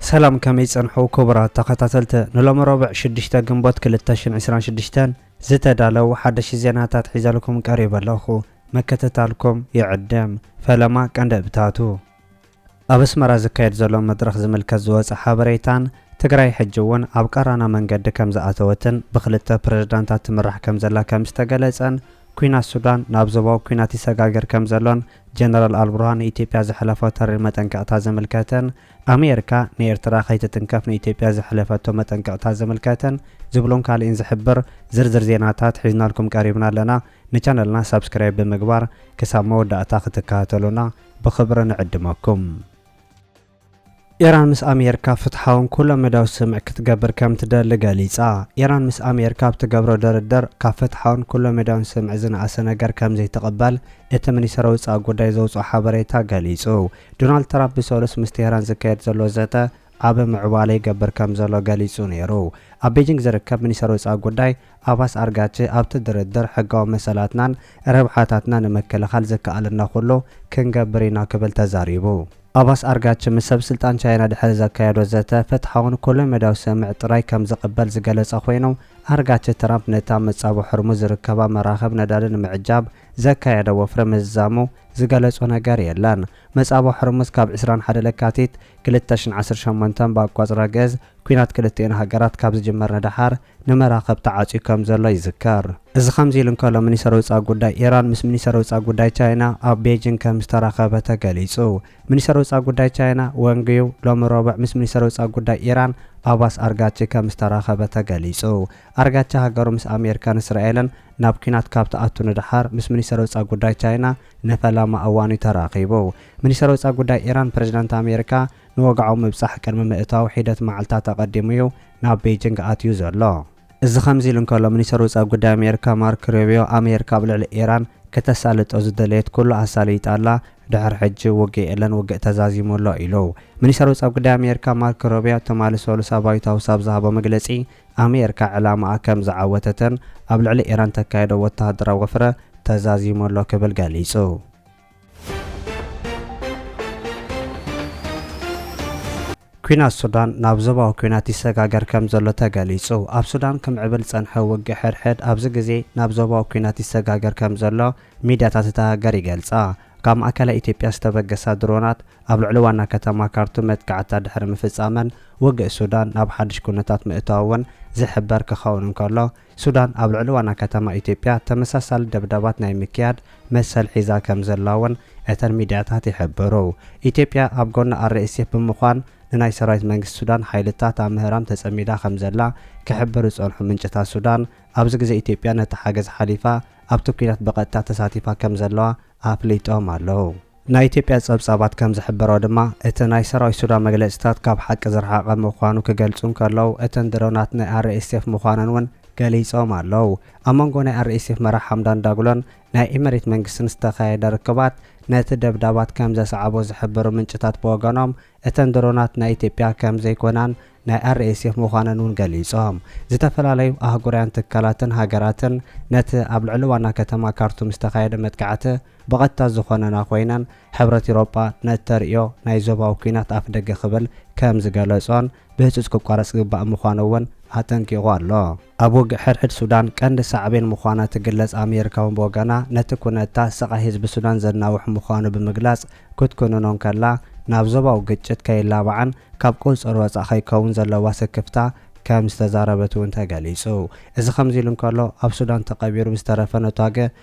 ሰላም ከመይ ጸንሑ ኩቡራት ተኸታተልቲ ንሎሚ ሮብዕ ሽዱሽተ ግንቦት ክልተ ሽሕን ዕስራን ሽዱሽተን ዝተዳለው ሓደሽቲ ዜናታት ሒዘልኩም ቀሪበ ኣለኹ ምክትታልኩም ይዕድም ፈለማ ቀንዲ እብታቱ ኣብ ኣስመራ ዝካየድ ዘሎ መድረኽ ዝምልከት ዝወጸ ሓበሬታን፣ ትግራይ ሕጂ'ውን ኣብ ቀራና መንገዲ ከምዝኣተወትን ብኽልተ ፕረዚዳንታት ትምራሕ ከምዘላ ከምዝተገለጸን ኲናት ሱዳን ናብ ዞባዊ ኲናት ይሰጋገር ከምዘሎን ጀነራል ኣልቡርሃን ንኢትዮጵያ ዘሕለፎ ተሪር መጠንቀቕታ ዝምልከትን ኣሜሪካ ንኤርትራ ከይትትንከፍ ንኢትዮጵያ ዘሕለፈቶ መጠንቀቕታ ዝምልከትን ዝብሉን ካልእን ዝሕብር ዝርዝር ዜናታት ሒዝናልኩም ቀሪብና ኣለና ንቻነልና ሳብስክራይብ ብምግባር ክሳብ መወዳእታ ክትከታተሉና ብኽብሪ ንዕድመኩም። ኢራን ምስ ኣሜሪካ ፍትሓውን ኩለ መዳያዊ ስምምዕ ክትገብር ከም ትደሊ ገሊጻ። ኢራን ምስ ኣሜሪካ ኣብ ትገብሮ ድርድር ካብ ፍትሓውን ኩለ መዳያውን ስምምዕ ዝነኣሰ ነገር ከም ዘይትቕበል እቲ ሚኒስተር ወጻኢ ጉዳይ ዘውጽኦ ሓበሬታ ገሊጹ። ዶናልድ ትራምፕ ብሰሉስ ምስ ቴህራን ዝካየድ ዘሎ ዘተ፣ ኣብ ምዕባለ ይገብር ከምዘሎ ገሊጹ ነይሩ። ኣብ ቤጂንግ ዝርከብ ሚኒስተር ወጻኢ ጉዳይ ኣባስ ኣርጋቺ ኣብቲ ድርድር ሕጋዊ መሰላትናን ረብሓታትናን ንምክልኻል ዝከኣለና ኩሉ ክንገብር ኢና ክብል ተዛሪቡ። ኣባስ ኣርጋቺ ምስ ሰብ ስልጣን ቻይና ድሕሪ ዘካየዶ ዘተ ፍትሓውን ኩለ መዳያዊ ስምምዕ ጥራይ ከም ዝቕበል ዝገለጸ ኮይኑ፣ ኣርጋቺ ትራምፕ ነቲ ኣብ መጻብቦ ሕርሙዝ ዝርከባ መራኽብ ነዳዲ ንምዕጃብ ዘካየዶ ወፍሪ ምዝዛሙ ዝገለጾ ነገር የለን። መጻብቦ ሕርሙዝ ካብ ዕስራን ሓደ ለካቲት ክልተ ሽሕን ዓሰርተ ሸሞንተን ብኣቋጽራ ግእዝ ኲናት ክልቲኤን ሃገራት ካብ ዝጅመር ንደሓር ንመራኽብ ተዓጽዩ ከም ዘሎ ይዝከር። እዚ ከምዚ ኢሉ እንከሎ ሚኒስተር ወጻኢ ጉዳይ ኢራን ምስ ሚኒስተር ወጻኢ ጉዳይ ቻይና ኣብ ቤጂንግ ከም ዝተራኸበ ተገሊጹ። ሚኒስተር ወጻኢ ጉዳይ ቻይና ወንግ ዩ ሎሚ ረቡዕ ምስ ሚኒስተር ወጻኢ ጉዳይ ኢራን ኣባስ ኣርጋቺ ከም ዝተራኸበ ተገሊጹ። ኣርጋቺ ሃገሩ ምስ ኣሜሪካን እስራኤልን ናብ ኲናት ካብ ትኣቱ ንደሓር ምስ ሚኒስተር ወጻኢ ጉዳይ ቻይና ንፈለማ እዋን'ዩ ተራኺቡ። ሚኒስተር ወጻኢ ጉዳይ ኢራን፣ ፕረዚደንት ኣሜሪካ ንወግዓዊ ምብጻሕ ቅድሚ ምእታዉ ሒደት መዓልታት ኣቐዲሙ'ዩ ናብ ቤጂንግ ኣትዩ ዘሎ። እዚ ከምዚ ኢሉ እንከሎ፣ ሚኒስተር ወጻኢ ጉዳይ ኣሜሪካ ማርክ ሩቢዮ፣ ኣሜሪካ ኣብ ልዕሊ ኢራን ክተሳልጦ ዝደለየት ኩሉ ኣሳልይጣ ኣላ፣ ድሕሪ ሕጂ ውግእ የለን፣ ውግእ ተዛዚሙ ኣሎ ኢሉ። ሚኒስተር ወጻኢ ጉዳይ ኣሜሪካ ማርክ ሩቢዮ ትማሊ ሰሉስ ኣብ ዋይት ሃውስ ኣብ ዝሃቦ መግለጺ፣ ኣሜርካ ዕላማኣ ከም ዝዓወተተን ኣብ ልዕሊ ኢራን ተካይዶ ወተሃደራዊ ወፍረ ተዛዚሙ ኣሎ ክብል ገሊጹ። ኲናት ሱዳን ናብ ዞባዊ ኲናት ይሰጋገር ከም ዘሎ ተገሊጹ። ኣብ ሱዳን ክምዕብል ዝጸንሐ ውግእ ሕድሕድ ኣብዚ ግዜ ናብ ዞባዊ ኲናት ይሰጋገር ከም ዘሎ ሚድያታት እታ ሃገር ይገልጻ። ካብ ማእከላይ ኢትዮጵያ ዝተበገሳ ድሮናት ኣብ ልዕሊ ዋና ከተማ ካርቱም መጥቃዕትታት ድሕሪ ምፍጻመን ውግእ ሱዳን ናብ ሓድሽ ኩነታት ምእታዉ'ውን ዝሕበር ክኸውን እንከሎ፣ ሱዳን ኣብ ልዕሊ ዋና ከተማ ኢትዮጵያ ተመሳሳሊ ደብዳባት ናይ ምክያድ መሰል ሒዛ ከምዘላ'ውን እተን ሚድያታት ይሕብሩ። ኢትዮጵያ ኣብ ጎኒ RSF ብምዃን ንናይ ሰራዊት መንግስቲ ሱዳን ሓይልታት ኣብ ምህራም ተጸሚዳ ከምዘላ ክሕብሩ ዝጸንሑ ምንጭታት ሱዳን፣ ኣብዚ ግዜ ኢትዮጵያ ነቲ ሓገዝ ሓሊፋ ኣብቲ ኲናት ብቐጥታ ተሳቲፋ ከምዘለዋ ኣፍሊጦም ኣለዉ። ናይ ኢትዮጵያ ጸብጻባት ከም ዝሕብሮ ድማ፣ እቲ ናይ ሰራዊት ሱዳን መግለጺታት ካብ ሓቂ ዝረሓቐ ምዃኑ ክገልጹ እንከለዉ፣ እተን ድሮናት ናይ RSF ምዃነን እውን ገሊጾም ኣለዉ። ኣብ መንጎ ናይ RSF መራሕ ሓምዳን ዳግሎን ናይ ኢመሪት መንግስትን ዝተኻየደ ርክባት ነቲ ደብዳባት ከም ዘስዓቦ ዝሕብሩ ምንጭታት ብወገኖም፣ እተን ድሮናት ናይ ኢትዮጵያ ከም ዘይኮናን ናይ RSF ምዃነን እውን ገሊጾም። ዝተፈላለዩ ኣህጉራውያን ትካላትን ሃገራትን ነቲ ኣብ ልዕሊ ዋና ከተማ ካርቱም ዝተኻየደ መጥቃዕቲ ብቐጥታ ዝኾነና ኮይነን ሕብረት ኢሮጳ ነቲ ተርእዮ ናይ ዞባዊ ኲናት ኣፍደገ ክብል ከም ዝገለጾን ብህጹጽ ክቋረጽ ዝግባእ ምዃኑ እውን ኣጠንቂቑ ኣሎ። ኣብ ውግእ ሕድሕድ ሱዳን ቀንዲ ሳዕቤን ምዃና ትግለጽ ኣሜርካ እውን ብወገና ነቲ ኩነታ ስቓይ ህዝቢ ሱዳን ዘናውሕ ምዃኑ ብምግላጽ ክትኩንኖ እንከላ ናብ ዞባዊ ግጭት ከይላባዕን ካብ ቁጽጽር ወጻእ ከይከውን ዘለዋ ስክፍታ ከም ዝተዛረበት እውን ተገሊጹ። እዚ ከምዚ ኢሉ እንከሎ ኣብ ሱዳን ተቐቢሩ ብዝተረፈ ነቷገ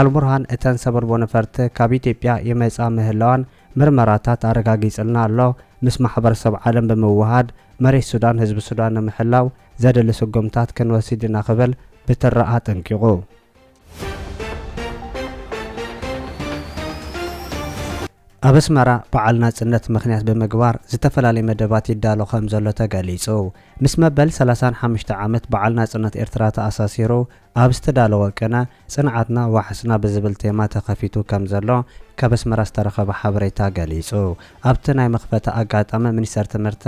ኣልቡርሃን እተን ሰበልቦ ነፈርቲ ካብ ኢትዮጵያ ይመጻ ምህላዋን ምርመራታት ኣረጋጊጽልና ኣሎ፣ ምስ ማሕበረሰብ ዓለም ብምውህሃድ መሬት ሱዳን ህዝቢ ሱዳን ንምሕላው ዘድሊ ስጉምታት ክንወሲድ ኢና ክብል ብትሪ ኣጠንቂቑ። ኣብ ኣስመራ በዓል ናጽነት ምኽንያት ብምግባር ዝተፈላለየ መደባት ይዳሎ ከም ዘሎ ተገሊጹ። ምስ መበል ሰላሳን ሓሙሽተ ዓመት በዓል ናጽነት ኤርትራ ተኣሳሲሩ ኣብ ዝተዳለወ ቅነ፣ ጽንዓትና ዋሕስና ብዝብል ቴማ ተኸፊቱ ከም ዘሎ ካብ ኣስመራ ዝተረኸበ ሓበሬታ ገሊጹ። ኣብቲ ናይ መኽፈቲ ኣጋጣሚ ሚኒስተር ትምህርቲ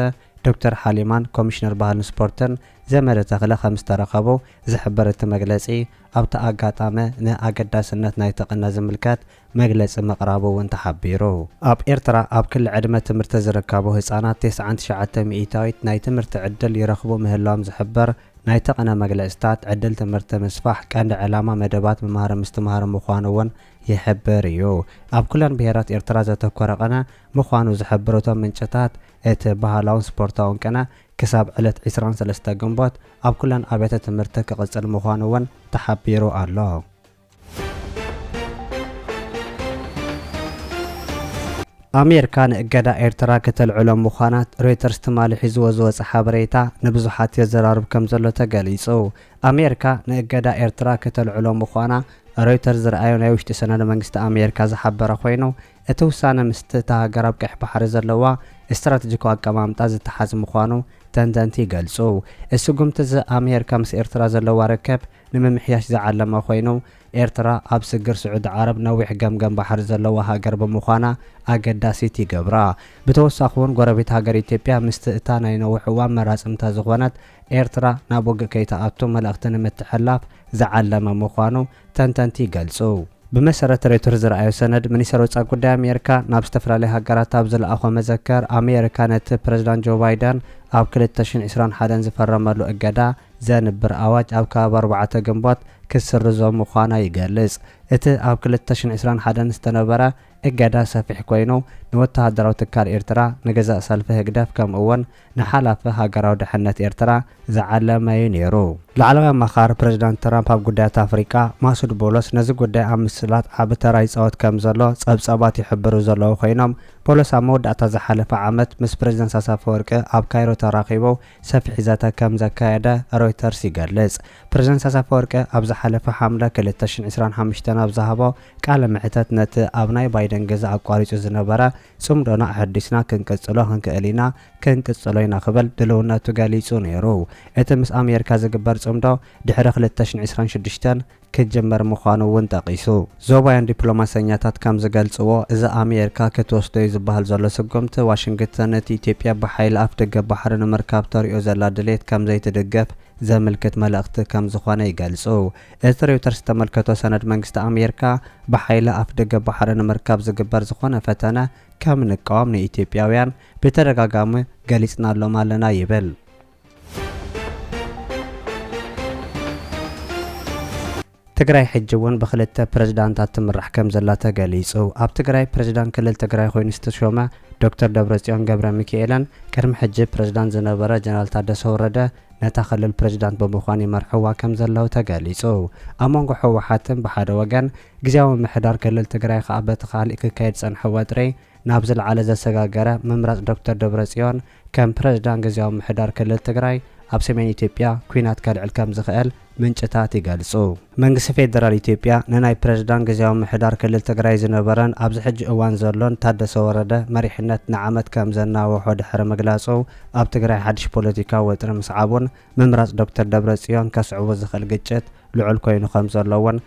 ዶክተር ሓሊማን ኮሚሽነር ባህልን ስፖርትን ዘመደ ተኽለ ከም ዝተረኸቡ ዝሕብር እቲ መግለጺ፣ ኣብቲ ኣጋጣሚ ንኣገዳስነት ናይቲ ቅነ ዝምልከት መግለጺ ምቕራቡ እውን ተሓቢሩ። ኣብ ኤርትራ ኣብ ክሊ ዕድመ ትምህርቲ ዝርከቡ ህጻናት ተስዓን ትሽዓተ ሚኢታዊት ናይ ትምህርቲ ዕድል ይረኽቡ ምህላዎም ዝሕብር ናይቲ ቅነ መግለጺታት፣ ዕድል ትምህርቲ ምስፋሕ ቀንዲ ዕላማ መደባት ምምሃረ ምስትምሃረ ምዃኑ እውን ይሕብር እዩ። ኣብ ኩለን ብሄራት ኤርትራ ዘተኮረ ቅነ ምዃኑ ዝሕብሩ እቶም ምንጭታት፣ እቲ ባህላውን ስፖርታውን ቅነ ክሳብ ዕለት ዕስራን ሰለስተ ግንቦት ኣብ ኩለን ኣብያተ ትምህርቲ ክቕጽል ምዃኑ እውን ተሓቢሩ ኣሎ። ኣሜርካ ንእገዳ ኤርትራ ክተልዕሎ ምዃና ሮይተርስ ትማሊ ሒዝዎ ዝወጸ ሓበሬታ ንብዙሓት የዘራርብ ከምዘሎ ተገሊጹ። ኣሜርካ ንእገዳ ኤርትራ ክተልዕሎ ምዃና ሮይተርስ ዝርኣዮ ናይ ውሽጢ ሰነደ መንግስቲ ኣሜርካ ዝሓበረ ኮይኑ፣ እቲ ውሳነ ምስቲ እታ ሃገር ኣብ ቀይሕ ባሕሪ ዘለዋ ስትራተጂካዊ ኣቀማምጣ ዝተሓዝ ምዃኑ ተንተንቲ ይገልጹ። ስጉምቲ'ዚ ኣሜርካ ምስ ኤርትራ ዘለዋ ርክብ ንምምሕያሽ ዝዓለመ ኮይኑ፣ ኤርትራ ኣብ ስግር ስዑዲ ዓረብ ነዊሕ ገምገም ባሕሪ ዘለዋ ሃገር ብምዃና ኣገዳሲት ይገብራ። ብተወሳኺ'ውን ጎረቤት ሃገር ኢትዮጵያ ምስቲ እታ ናይ ነዊሕ እዋን መራጽምታ ዝኾነት ኤርትራ ናብ ውግእ ከይትኣቱ መልእኽቲ ንምትሕልላፍ ዝዓለመ ምዃኑ ተንተንቲ ይገልጹ። ብመሰረት ሬውተርስ ዝርኣዮ ሰነድ፣ ሚኒስተር ወጻኢ ጉዳይ ኣሜርካ ናብ ዝተፈላለያ ሃገራት ኣብ ዝልኣኾ መዘከር፣ ኣሜርካ ነቲ ፕረዚዳንት ጆ ባይደን ኣብ ክልተ ሽሕን ዕስራን ሓደን ዝፈረመሉ እገዳ፣ ዘንብር ኣዋጅ ኣብ ከባቢ ኣርባዕተ ግንቦት ክትስርዞ ምዃና ይገልጽ። እቲ ኣብ ክልተ ሽሕን ዕስራን ሓደን ዝተነበረ እገዳ ሰፊሕ ኮይኑ፣ ንወተሃደራዊ ትካል ኤርትራ፣ ንገዛእ ሰልፊ ህግደፍ ከምኡ'ውን ንሓላፊ ሃገራዊ ድሕነት ኤርትራ ዝዓለመ'ዩ ነይሩ። ላዕለዋይ ኣማኻሪ ፕረዚዳንት ትራምፕ ኣብ ጉዳያት ኣፍሪቃ ማሱድ ቦሎስ ነዚ ጉዳይ ኣብ ምስላጥ ዓቢ ተራ ይጻወት ከምዘሎ ጸብጻባት ይሕብሩ ዘለዉ ኮይኖም፣ ቦሎስ ኣብ መወዳእታ ዝሓለፈ ዓመት ምስ ፕረዚደንት ኢሳያስ ኣፈወርቂ ኣብ ካይሮ ተራኺቡ ሰፊሕ ዘተ ከም ዘካየደ ሮይተርስ ይገልጽ። ፕረዚደንት ኢሳያስ ኣፈወርቂ ኣብ ዝሓለፈ ሓምለ ክልተ ሽሕን ዕስራን ሓሙሽተን ኣብ ዝሃቦ ቃለ መሕተት ነቲ ኣብ ናይ ባይደን ግዜ ኣቋሪጹ ዝነበረ ጽምዶና ኣሐዲስና ክንቅጽሎ ክንክእል ኢና ክንቅጽሎ ኢና ክብል ድልውነቱ ገሊጹ ነይሩ። እቲ ምስ ኣሜሪካ ዝግበር ጽምዶ ድሕሪ ክልተ ሽሕን ዕስራን ሽዱሽተን ክጅምር ምዃኑ እውን ጠቒሱ። ዞባውያን ዲፕሎማሰኛታት ከም ዝገልጽዎ፣ እዚ ኣሜሪካ ክትወስዶ'ዩ ዝበሃል ዘሎ ስጉምቲ፣ ዋሽንግተን እቲ ኢትዮጵያ ብሓይሊ ኣፍደገ ባሕሪ ንምርካብ ተርእዮ ዘላ ድሌት ከም ዘይትድግፍ ዘምልክት መልእኽቲ ከም ዝዀነ ይገልጹ። እቲ ሬውተርስ ዝተመልከቶ ሰነድ መንግስቲ ኣሜሪካ፣ ብሓይሊ ኣፍደገ ባሕሪ ንምርካብ ዝግበር ዝዀነ ፈተነ ከም እንቃወም ንኢትዮጵያውያን ብተደጋጋሚ ገሊጽናሎም ኣለና ይብል። ትግራይ ሕጂ እውን ብክልተ ፕረዚዳንታት ትምራሕ ከምዘላ ተገሊፁ። ኣብ ትግራይ ፕረዚዳንት ክልል ትግራይ ኮይኑ ዝተሾመ ዶክተር ደብረፅዮን ገብረሚኪኤለን ቅድሚ ሕጂ ፕረዚዳንት ዝነበረ ጀነራል ታደሰ ወረደ ነታ ክልል ፕረዚዳንት ብምኳን ይመርሕዋ ከምዘለው ተገሊፁ። ኣብ መንጎ ህወሓትን ብሓደ ወገን ግዝያዊ ምምሕዳር ክልል ትግራይ ከዓ በቲ ካሊእ ክካየድ ዝፀንሐ ወጥሪ ናብ ዝለዓለ ዘሰጋገረ ምምራፅ ዶክተር ደብረፅዮን ከም ፕረዚዳንት ግዝያዊ ምምሕዳር ክልል ትግራይ ኣብ ሰሜን ኢትዮጵያ ኲናት ከልዕል ከምዝኽእል ምንጭታት ይገልፁ። መንግስቲ ፌደራል ኢትዮጵያ ንናይ ፕረዚዳንት ግዝያዊ ምምሕዳር ክልል ትግራይ ዝነበረን ኣብዚ ሕጂ እዋን ዘሎን ታደሰ ወረደ መሪሕነት ንዓመት ከምዘናወሖ ድሕሪ ምግላፁ ኣብ ትግራይ ሓድሽ ፖለቲካዊ ወጥሪ ምስዓቡን ምምራፅ ዶክተር ደብረፅዮን ከስዕቦ ዝኽእል ግጭት ልዑል ኮይኑ ከምዘሎ እውን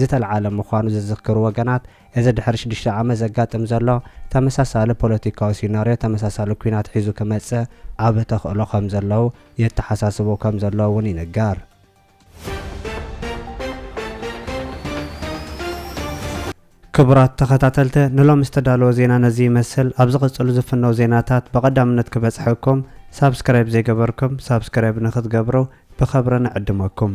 ዝተልዓለ ምዃኑ ዝዝክሩ ወገናት፣ እዚ ድሕሪ ሽዱሽተ ዓመት ዘጋጥም ዘሎ ተመሳሳሊ ፖለቲካዊ ሲናርዮ ተመሳሳሊ ኲናት ሒዙ ክመጽእ ዓቢ ተኽእሎ ከም ዘለው የተሓሳስቡ ከም ዘለው'ውን ይንገር። ክቡራት ተኸታተልቲ ንሎሚ ዝተዳለወ ዜና ነዚ ይመስል፣ ኣብ ዝቕጽሉ ዝፍነው ዜናታት ብቐዳምነት ክበጽሐኩም ሳብስክራይብ ዘይገበርኩም ሳብስክራይብ ንኽትገብሩ ብኸብሪ ንዕድመኩም።